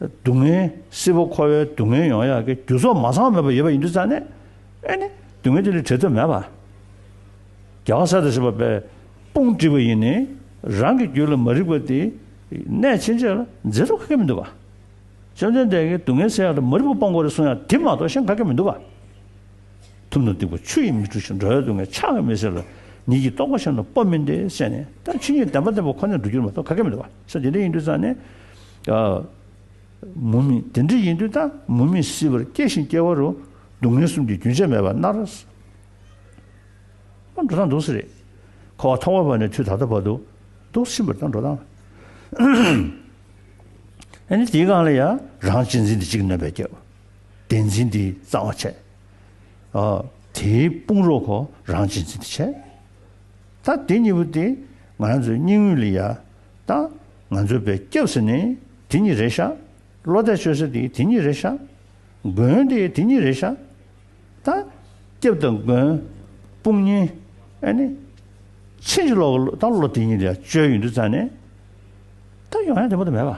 སྡུག་བསྔལ་སྲིད་པ་འཁོར་བའི་སྡུག་བསྔལ་ཡོང་ཡག་གི་རྒྱུ་ཚོགས་མ་ཚང་མེད་པ་ཡོད་པ་ཡིན་དུས་ཙང་ནས་ཨེ་ནི་སྡུག་བསྔལ་དེ་ལས་བྲལ་དུ་མེད་པ། རྒྱ་ག་གསལ་དུ་བྱེད་པ་པའི་དཔུང་བསྒྲིགས་པ་ཡིན་ནི་རང་གི་རྒྱུད་ལ་མ་རིག་པ་དེ་གནས་ཕྱིན་ཆད་ལ་འཛིན་རུ་ག་གི་མི་འདུག་བ། བཅོམ་ལྡན་འདས་ཀྱིས་སྡུག་བསྔལ་སེལ་ཡག་ལ་མ་རིག་པ་སྤོང་དགོས་རེ་གསུངས་ཡང་དེ་མ་གཏོགས་གཞན་ག་གི་མི་འདུག་བ། ཐུབ་ན་སྡིག་པ་ཆུ་ཡིས་མི་བཀྲུ་ཞིང་འགྲོ་བའི་སྡུག་བསྔལ་ཆགས་ཀྱང་མི་སྲིད་ལ། ཉིད་ཀྱིས་རྟོགས་པ་གཞན་དུ་སྤོ་མི་འདོད་བསད་ནས་ད་ཕྱིན་ཆད་བདེན་པ་བདེན་པ་ཁོ་ནས་འགྲོ་རྒྱུར་མ་གཏོགས་ག་གེ་མི་འདུག་བ་ས་དེ་འདྲ་ཡིན་དུས་ཙང་ནས། མུ་མེད་དེ་འདྲ་ཡིན་དུས་ད་མུ་མེད་སྲིད་པར་སྐྱེ་ཞིང་སྐྱེ་བ་རུ་སྡུག་བསྔལ་གསུམ་གྱི་རྒྱུན་ཆད་མེད་པར་མནར། འགྲོ་སྟངས་འདུག་ས་རེད། འཁོར་བ་ཐོག་མ་བར་ནས་དུས་ད་ལྟ་བར་དུ་འདུག་བཞིན་པ་དང་འགྲོ་སྟངས། ཨ་ནི་དེའི་སྒང་ལ་ཡང་རང་གཅེས་འཛིན་འདི་གཅིག་གནོད་པའི་རྒྱབ། བདེན་འཛིན་འདི་རྩ་བ་ཆད། དེའི་དཔུང་རོགས་གོ་རང་སྤྱི་འཛིན་འདི་ཆད། ད་དེ་གཉིས་པོ་དེ་ང་རང་ཚོའི་སྙིང་དབུས་ལ་ཡ། ད་ང་ཚོའི་བས་སྐྱབས་ཟེར་ནི་དེ་གཉིས་རེད་ཤག། བློ་གཏད་བཅོལ་ཟེར་དེ་དེ་གཉིས་རེད་ཤག། མགོན་དེ་དེ་གཉིས་རེད་ཤག། ད་སྐྱབས་དང་མགོན། དཔུང་གཉིས། ཨ་ནི། ཕྱིན་ཅི་ལོག་གི་ད་བློ་དེ་གཉིས་ལ་ཡ་བཅོལ་ཡོད་འདུག་རྩ་ནས། ད་ཡོང་ཡ་དེ་མོ་དེ་མེད་པ།